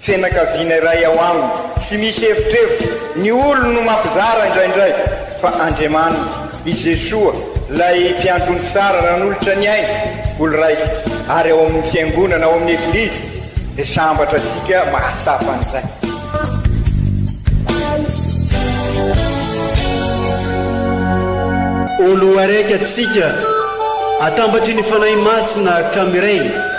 Fianakaviana iray ao aminy. Tsy misy hevitrevitra, ny olony no mampizara indraindray, fa Andriamaniny, i Jesoa, ilay Mpiandrony tsara nanolotra ny ainy, olon-raika, ary ao amin'ny Fiangonana, ao amin'ny Eglizy, dia sambatra antsika mahatsapa an'izay. Olo araiky atsika, atambatry ny Fanahy Masina ka miray.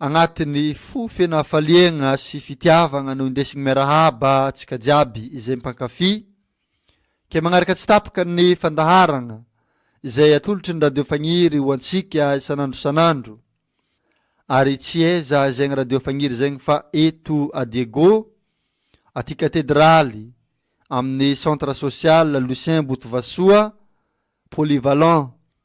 Agnatin'ny fo feno hafaliagna sy fitiavagna no indesigny miarahaba antsika jiaby izay mpankafy. Kay magnaraka tsy tapaka ny fandaharagna izay atolotry ny Radio Fagniry ho antsika isan'andro isan'andro. Ary tsy aiza izegny Radio Fagniry izegny fa eto à Diego, aty Katedraly, amin'ny Centre Social Lucien Botovasoa, Polyvalent,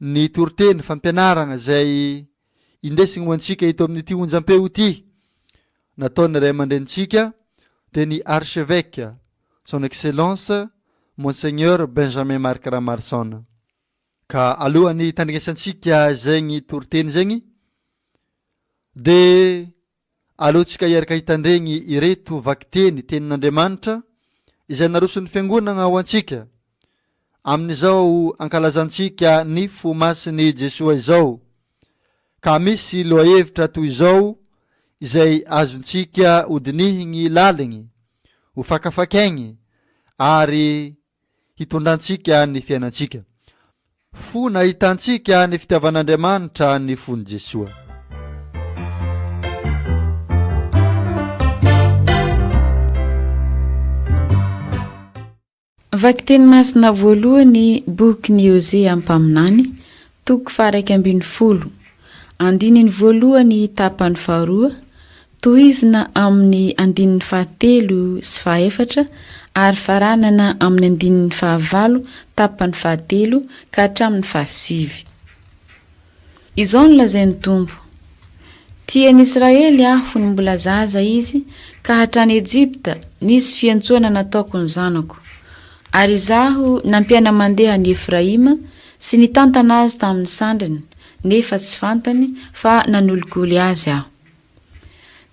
ny toriteny, fampianarana izay indesiny ho antsika eto amin'ity onjampeo ity nataon'ny ray aman-drenintsika dia ny Archevêque, Son Excellence Monseigneur Benjamin Marc Ramarson. Ka alohan'ny hitandringasantsika zegny toriteny zegny dia Aleontsika hiaraka hitandregny ireto vakiteny Tenin'Andriamanitra izay naroson'ny Fiangonagna ho antsika amin'izao ankalazantsika ny fo masin'i Jesoa izao. Ka misy lohahevitra toy izao izay azontsika hodinihigny laligny, hofakafakaigny ary hitondra antsika ny fiainantsika. Fo nahitantsika ny fitiavan'Andriamanitra ny fon'i Jesoa. Vakiteny masina voalohany boky ny Hosea mpaminany, Toko faha-iraika ambin'ny folo, andininy voalohany tapany faharoa, tohizina amin'ny andininy fahatelo sy fahaefatra ary faranana amin'ny andininy fahavalo tapany fahatelo ka hatramin'ny fahasivy. Izao no lazain'ny Tompo, Tia an'i Israely Aho fony mbola zaza izy ka hatrany Ejipta nisy fiantsoana nataoko ny zanako, ary Izaho nampiana-mandeha an'i Efraima Sy nitantana azy tamin'ny sandriny, nefa tsy fantany fa nanoligoly azy aho.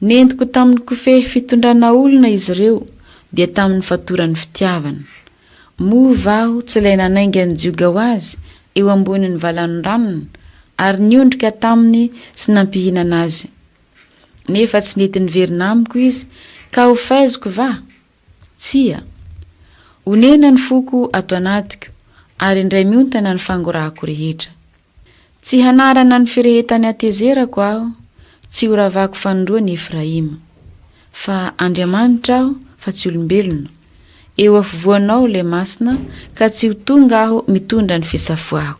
Nentiko tamin'ny kofehy fitondrana olona izy ireo, dia tamin'ny fatoran'ny fitiavana. Moa va aho tsy ilay nanainga ny jioga ho azy eo ambonin'ny valan-dranony, ary niondrika taminy sy nampihinana azy? Nefa tsy nety niverina amiko izy, ka ho faiziko va? Tsia. Onena ny foko ato anatiko, ary indray miontana ny fangorahako rehetra. Tsy hanarana ny firehetan'ny hatezerako aho, tsy horavako fanindroany Efraima. Fa Andriamanitra aho, fa tsy olombelona. Eo afovoanao ilay Masina, ka tsy ho tonga aho mitondra ny fisafoako.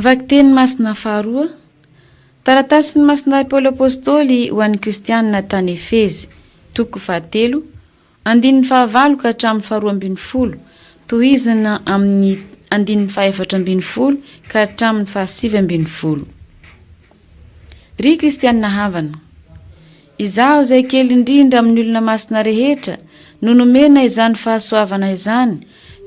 Vakiteny masina faharoa Taratasin'ny masina Paoly Apôstôly ho an'ny Kristianina tany Efezy, toko fahatelo, Andininy fahavalo ka hatramin'ny faharoa ambin'ny folo, tohizina amin'ny andininy fahefatra ambin'ny folo ka hatramin'ny fahasivy ambin'ny folo. Ry kristiana havana, izaho izay kely indrindra amin'ny olona masina rehetra no nomena izany fahasoavana izany,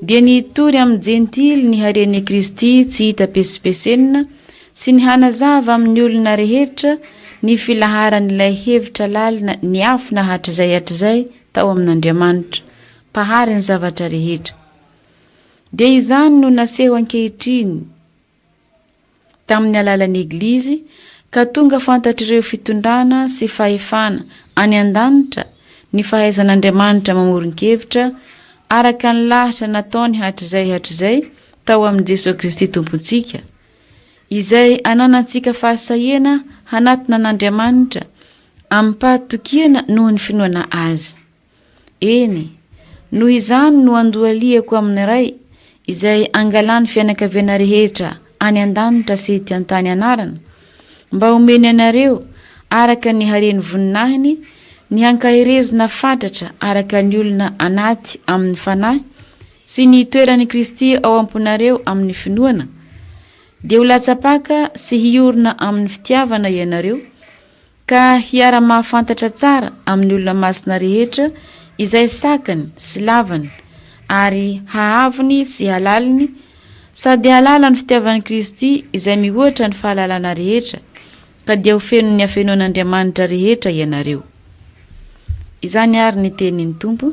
dia ny hitory amin'ny Jentily ny haren'i Kristy tsy hita pesipesenina sy ny hanazava amin'ny olona rehetra ny filaharan'ilay hevitra lalina niafina hatrizay hatrizay tao amin'Andriamanitra, Mpahary ny zavatra rehetra. Dia izany no naseho ankehitriny tamin'ny alalan'ny Eglizy ka tonga fantatr'ireo fitondrana sy fahefana any an-danitra ny fahaizan'Andriamanitra mamoron-kevitra araka ny lahatra nataony hatrizay hatrizay tao amin'i Jesoa Kristy Tompontsika, izay ananantsika fahasahiana hanatona an'Andriamanitra amim-pahatokiana noho ny finoana azy. Eny, noho izany no andohalihako amin'ny Ray izay angalan'ny fianakaviana rehetra any an-danitra sy ety an-tany anarana, mba homeny anareo araka ny haren'ny voninahiny ny hankaherezina fatratra araka ny olona anaty amin'ny fanahy sy ny toeran' i Kristy ao am-ponareo amin' ny finoana, dia ho latsa-paka sy hiorina amin' ny fitiavana ianareo, ka hiara-mahafantatra tsara amin' ny olona masina rehetra izay sakany sy lavany, ary hahavony sy halaliny, sady hahalala ny fitiavan' Kristy izay mihoatra ny fahalalana rehetra, ka dia ho fenon' ny hafenoan' Andriamanitra rehetra ianareo. Izany àry ny tenin' ny Tompo.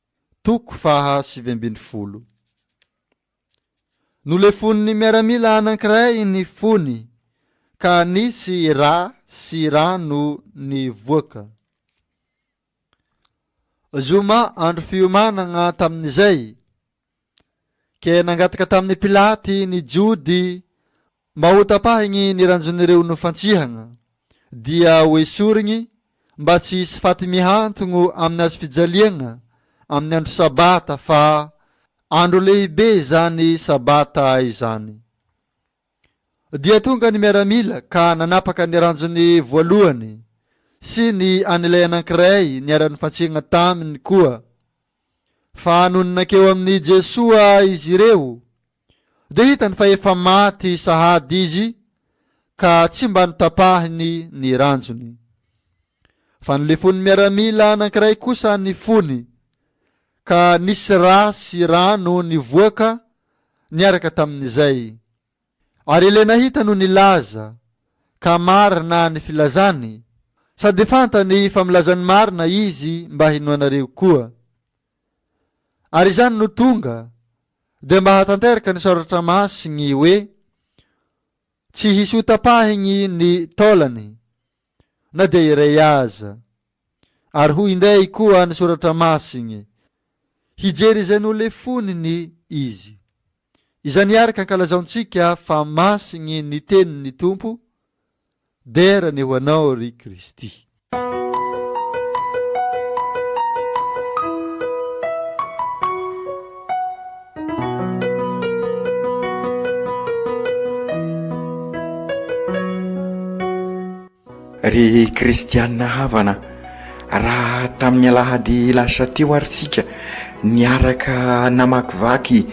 Toko faha sivy ambin'ny folo. Nolefonin'ny miaramila anankiray ny fony ka nisy ra sy rano nivoaka. Zoma andro fiomanagna tamin'izay, Ke nangataka tamin'i Pilaty ny Jody mba ho tapahigny ny ranjon'ireo nofantsihagna, dia ho esorigny mba tsy hisy faty mihantogno amin'ny hazo fijaliagna amin'ny andro sabata, fa andro lehibe izany sabata izany. Dia tonga ny miaramila ka nanapaka ny ranjony voalohany sy ny an'ilay anankiray niara-nifantsihagna taminy koa. Fa nony nankeo amin'i Jesoa izy ireo, dia hitany fa efa maty sahady izy ka tsy mba notapahiny ny ranjony. Fa nolefon'ny miaramila anankiray kosa ny fony, ka nisy ra sy rano nivoaka niaraka tamin'izay. Ary Elenahita no nilaza, ka marina ny filazany, sady fantany fa milaza ny marina izy mba hinoanareo koa. Ary izany no tonga dia mba hahatanteraka ny Soratra Masiny hoe, Tsy hisy hotapahiny ny taolany. na dia iray aza. Ary hoy indray koa ny Soratra Masiny, Hijery izay nolefony ny izy. Izany araka ankalazaontsika fa masiny ny tenin'ny Tompo, Dera ny ho anao, ry Kristy. Ry kristianina havana, raha tamin'ny alahady lasa teo ary isika niaraka namakivaky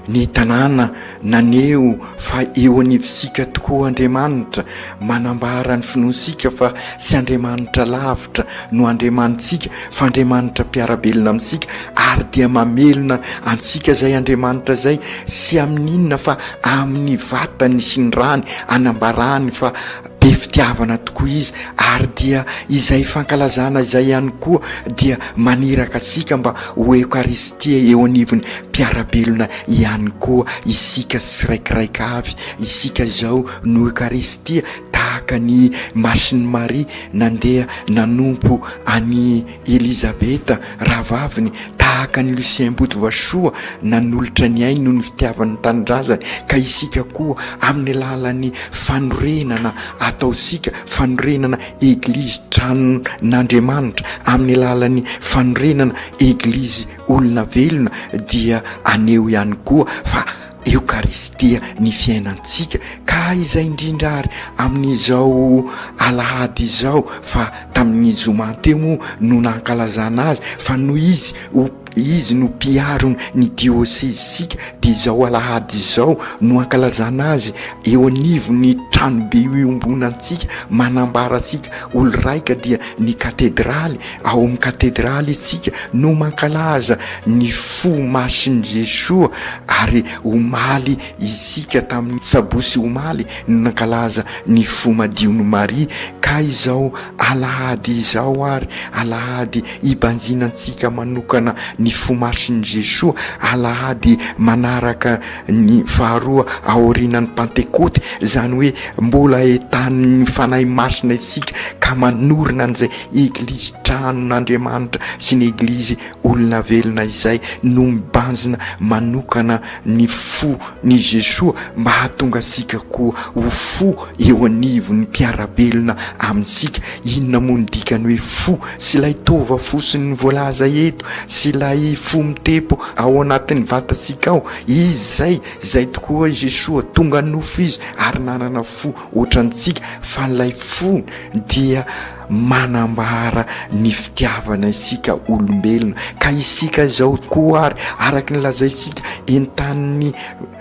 ny tanàna naneho fa eo anivontsika tokoa Andriamanitra, Manambara ny finoantsika fa tsy Andriamanitra lavitra no Andriamanitsika fa Andriamanitra mpiara-belona amintsika ary dia mamelona antsika izay Andriamanitra izay tsy amin'ny inona fa amin'ny vatany sy ny rany anambarany fa be fitiavana tokoa izy ary dia izay fankalazana izay ihany koa dia maniraka antsika mba ho Eokaristia eo anivon'ny mpiara-belona ihany koa isika tsiraikiraika avy isika izao Noho Ekaristia tahaka ny Masin'i Maria nandeha nanompo an'i Elizabeta rahavaviny, tahaka an'i Lucien Ambotovasoa nanolotra ny ainy noho ny fitiavany ny tanindrazany, ka isika koa amin'ny alalan'ny fanorenana ataontsika, fanorenana Eglizy tranon'Andriamanitra, amin'ny alalan'ny fanorenana Eglizy olona velona dia aneho ihany koa fa Eokaristia ny fiainantsika ka izay indrindra ary amin'izao alahady izao fa tamin'ny zoma teo moa no nankalazana azy fa noho izy ho izy no mpiaro ny diôsezisika dia izao alahady izao no ankalazana azy eo anivon'ny tranobe iombonantsika manambara antsika oloraika dia ny katedraly Ao amin'ny katedraly isika no mankalaza ny fo masin'i Jesoa ary omaly isika tamin'ny sabosy omaly no nankalaza ny fo madion'i Maria ka izao alahady izao ary alahady ibanjinantsika manokana ny fo masin'i Jesoa alahady manaraka ny faharoa aorianan'ny pantekoty izany hoe mbola etanin'ny Fanahy Masina isika ka manorina an'izay Eglizy tranon'Andriamanitra sy ny Eglizy olona velona izay no mibanjina manokana ny fo n'i Jesoa mba hahatonga antsika koa ho fo eo anivon'ny mpiara-belona amintsika. Inona moa ny dikan'ny hoe fo sy ilay tova fosiny voalaza eto sy ilay fo mitempo ao anatin'ny vatantsika ao? Izy izay, izay tokoa i Jesoa, tonga nofo Izy ary nanana fo. Ohatrantsika fa ilay fo dia manambara ny fitiavana isika olombelona, ka isika izao koa ary, araka ny lazaintsika, entanin'ny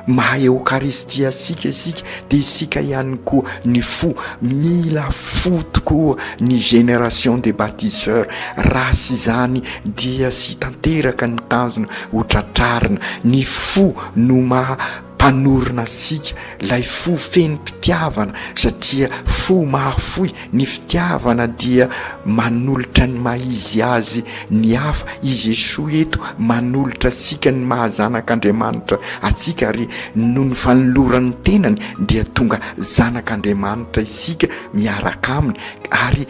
maha Eokaristia antsika isika, dia isika ihany koa ny fo. Mila fo tokoa ny génération des baptiseurs, raha tsy izany dia tsy tanteraka ny tanjona ho tratrarina. Ny fo no maha. Mpanorina antsika lay fo feno mpitiavana satria fo mahafoy ny fitiavana dia manolotra ny maha-izy azy ny hafa i Jesoa eto manolotra antsika ny maha-zanak'Andriamanitra antsika ary noho ny fanoloran'ny tenany dia tonga zanak'Andriamanitra isika miaraka aminy ary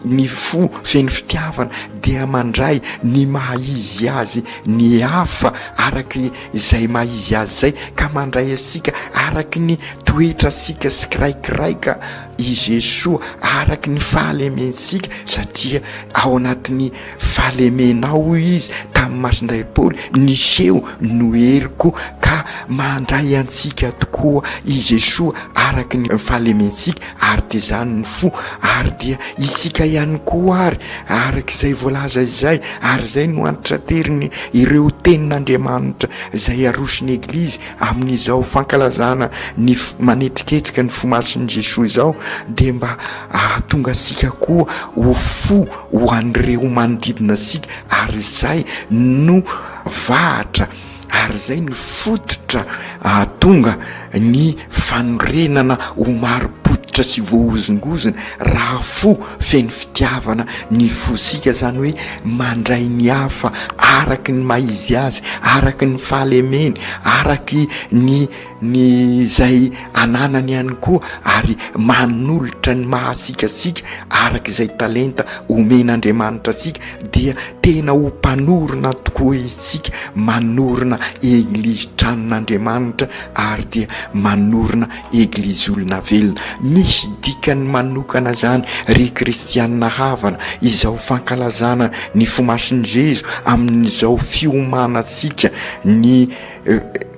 ny fo feno fitiavana dia mandray ny maha-izy azy ny hafa araka izay maha izy azy izay ka mandray antsika araka ny toetrantsika sikiraikiraika i Jesoa araka ny fahalementsika satria ao anatin'ny fahalemenao hoy izy tamin'ny masindray Paoly niseho no heriko ka mandray antsika tokoa i Jesoa araka ny fahalementsika ary dia izany ny fo, ary dia isika ihany koa àry, araka izay voalaza izay, ary izay no antitraterin' ireo tenin' Andriamanitra izay aroson' ny Eglizy amin' izao fankalazana ny manetriketrika ny fo masin' i Jesoa izao, dia mba hahatonga antsika koa ho fo ho an' ireo manodidina antsika, ary izay no vahatra ary izay no fototra ahatonga ny fanorenana ho marim-pototra sy voahozongozona raha fo feno fitiavana ny fosika, izany hoe mandray ny hafa araka ny maha izy azy, araka ny fahalemeny, araka ny ny izay ananany ihany koa ary manolotra ny maha asika asika araka izay talenta omen'Andriamanitra asika dia tena ho mpanorina tokoa isika manorina eglizy tranon'Andriamanitra ary dia manorina eglizy olona velona misy dikany manokana zany ry kristianina havana izao fankalazana ny fomasin'i Jezo amin'izao fiomanantsika ny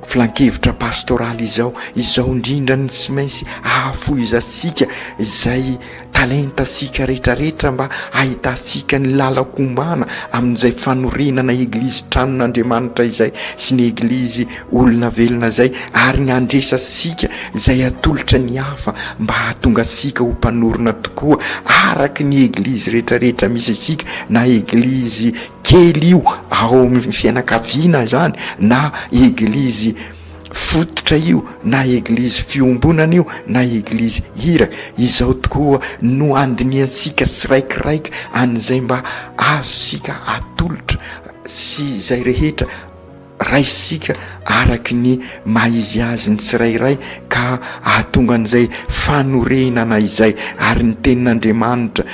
Filankevitra pastoraly izao, izao indrindra no tsy maintsy ahafohizantsika izay talentantsika rehetrarehetra mba hahitantsika ny lalam-ko mbana amin'izay fanorenana Eglizy tranon'Andriamanitra izay sy ny Eglizy olona velona izay ary ny handresantsika izay atolotra ny hafa mba hahatonga antsika ho mpanorina tokoa araka ny Eglizy rehetrarehetra misy antsika na Eglizy kely io ao amin'ny fianakaviana izany na eglizy fototra io na eglizy fiombonana io na eglizy hira izao tokoa no handinihantsika tsiraikiraiky an'izay mba azontsika atolotra sy izay rehetra Raisitsika araka ny maha izy azy ny tsirairay ka hahatonga an'izay fanorenana izay, ary ny Tenin'Andriamanitra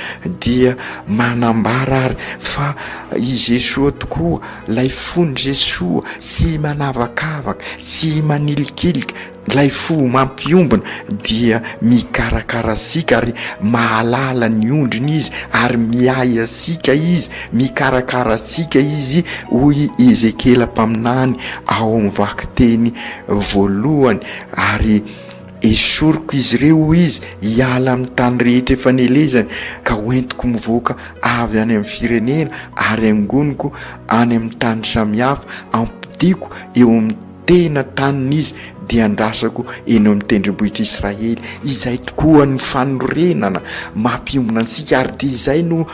dia manambara ary fa i Jesoa tokoa, ilay fon'i Jesoa, tsy manavakavaka, tsy manilikilika, Ilay fo mampiombona dia mikarakara antsika ary mahalala ny ondriny izy ary miahy antsika izy, mikarakara antsika izy, hoy i Ezekiela mpaminany ao amin'ny vakiteny voalohany, ary esoriko izy ireo, hoy izy, hiala amin'ny tany rehetra efa nelezany ka hoentiko mivoaka avy any amin'ny firenena ary hangoniko any amin'ny tany samihafa, hampodiako eo amin'ny tena tanin'izy dia andrasako eny amin'ny tendrombohitr'i Israely. Izay tokoa ny fanorenana mampiombona antsika ary dia izay no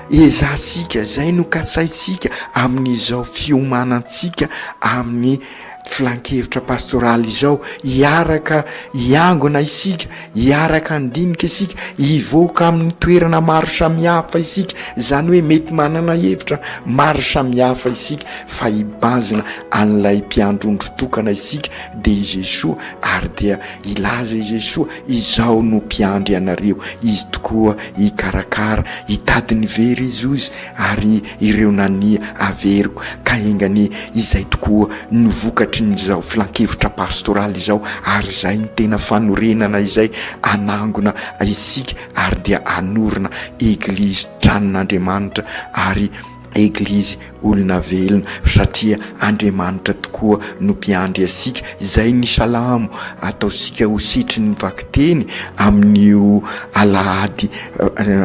ezahantsika, izay no katsaintsika amin'izao fiomanantsika amin'ny filankevitra pastoraly izao, hiaraka hiangona isika Hiaraka handinika isika, hivoaka amin'ny toerana maro samihafa isika, izany hoe mety manana hevitra maro samihafa isika fa hibazina an'ilay mpiandry ondry tokana isika dia i Jesoa ary dia hilaza i Jesoa, izaho no mpiandry anareo, Izy tokoa hikarakara, hitady ny very Izy ozy ary ireo nania averiko ka enga anie izay tokoa no vokatry ny izao filankevitra pastoraly izao ary izay no tena fanorenana izay anangona isika ary dia anorina eglizy tranon'Andriamanitra ary eglizy olona velona satria Andriamanitra tokoa no mpiandry asika izay ny salamo ataosika ho setrin'ny vakiteny amin'io alahady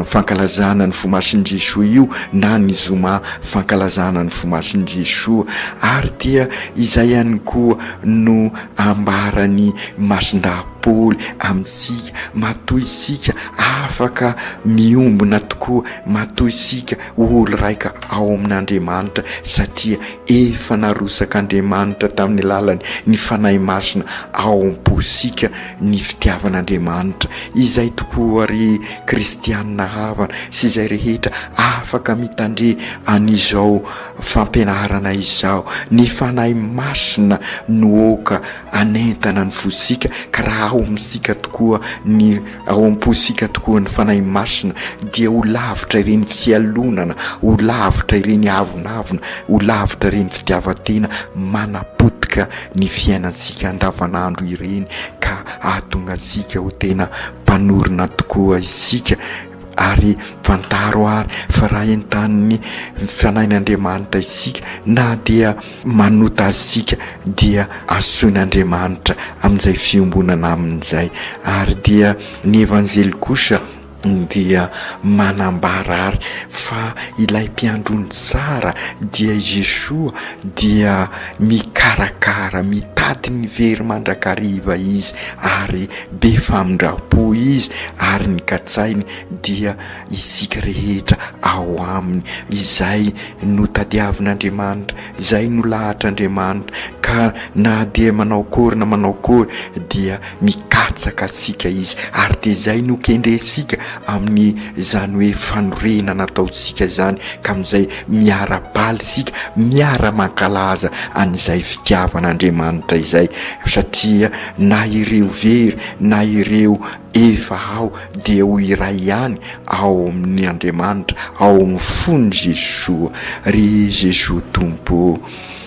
fankalazana ny vomasin'i Jesoa io na ny zoma fankalazana ny vomasin'i Jesoa ary dia izay ihany koa no ambaran'ny masindahy Paoly amintsika matoa isika afaka miombona tokoa matoa isika olo raika ao amin'Andriamanitra satria efa narosak'Andriamanitra tamin'ny lalany ny fanahy masina ao am-posika Ny fitiavan'Andriamanitra, izay tokoa ry kristianina havana sy izay rehetra afaka mitandre an'izao fampianarana izao, ny Fanahy Masina no aoka hanentana ny fosika, ka raha ao amintsika tokoa ny, ao am-posika tokoa ny Fanahy Masina, dia ho lavitra ireny fialonana, ho lavitra ireny avonavona, ho lavitra ireny fitiavan-tena manapotika ny fiainantsika andavanandro ireny ka hahatonga antsika ho tena mpanorina tokoa isika ary fantaro ary fa raha entanin'ny fanahin'Andriamanitra isika na dia manota azy isika dia asoin'Andriamanitra amin'izay fiombonana aminy izay ary dia ny Evanjely kosa dia manambara ary fa ilay mpiandry ny tsara dia i Jesoa dia mikarakara, mitady ny very mandrakariva izy ary be famindrampo izy ary ny katsainy dia isika rehetra ao aminy, izay no tadiavin'Andriamanitra, izay no lahatr'Andriamanitra ka na dia manao akory na manao akory dia Mikatsaka antsika Izy, ary dia izay no kendrentsika amin'izany hoe fanorenana nataontsika izany, ka amin'izay miara-baly isika, miara-mankalaza an'izay fitiavan'Andriamanitra izay, satria na ireo very na ireo efa ao dia ho iray ihany ao amin'Andriamanitra, ao amin'ny fon'i Jesoa. Ry Jesoa Tompo ô!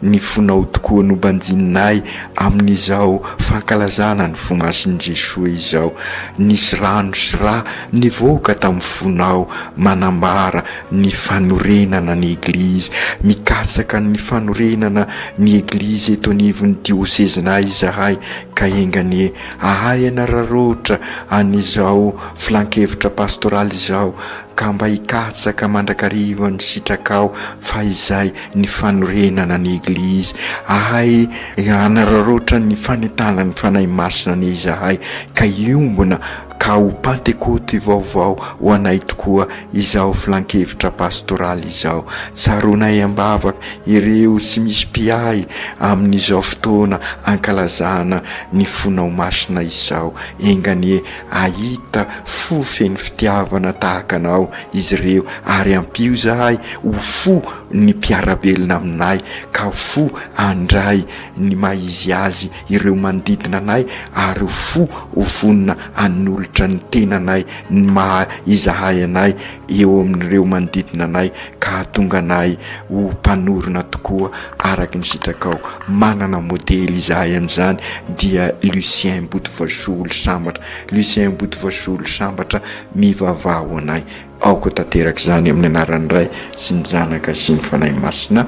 ny fonao tokoa no banjininay amin'izao fankalazana ny fo masin'i Jesoa izao. Nisy rano sy ra nivoaka tamin'ny fonao manambara ny fanorenana ny Eglizy. Mikatsaka ny fanorenana ny Eglizy eto anivon'ny diosezinay izahay ka enga anie ahay hanararaotra an'izao filankevitra pastoraly izao. ka mba hikatsaka mandrakariva ny sitrakao fa izay ny fanorenana ny Eglizy, ahay hanararaotra ny fanentanan'ny Fanahy Masina anie izahay ka hiombona ka ho Pantekoty vaovao ho anay tokoa izao Filankevitra Pastoraly izao. Tsaroanay am-bavaka ireo tsy misy mpiahy amin'izao fotoana ankalazana ny Fonao Masina izao, enga anie Hahita fo feno fitiavana tahaka anao izy ireo, ary ampio izahay ho fo ny mpiara-belona aminay, ka ho fo handray ny maha izy azy ireo manodidina anay, ary ho fo ho vonona hanolotra ny tenanay ny maha izahay anay, eo amin'ireo manodidina anay ka hahatonga anay ho mpanorina tokoa araka ny sitrakao. Manana modely izahay amin'izany dia Lucien Botovazoholo Sambatra. Lucien Botovazoholo Sambatra mivavaha ho anay. Aoka tanteraka izany amin'ny anaran'ny Ray sy ny Zanaka sy ny Fanahy Masina.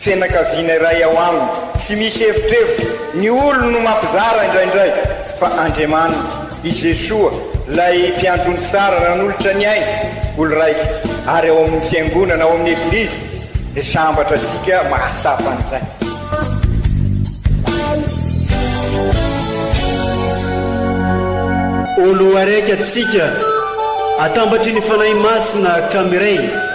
Fianakaviana iray ao aminy. Tsy misy hevitrevitra, ny olony no mampizara indraindray, fa Andriamaniny, i Jesoa, ilay Mpiandry ny tsara nanolotra ny ainy, olon-draika, ary ao amin'ny Fiangonana, ao amin'ny Eglizy, dia sambatra antsika mahatsapa an'izay. Olo araiky atsika, atambatry ny Fanahy Masina ka miray.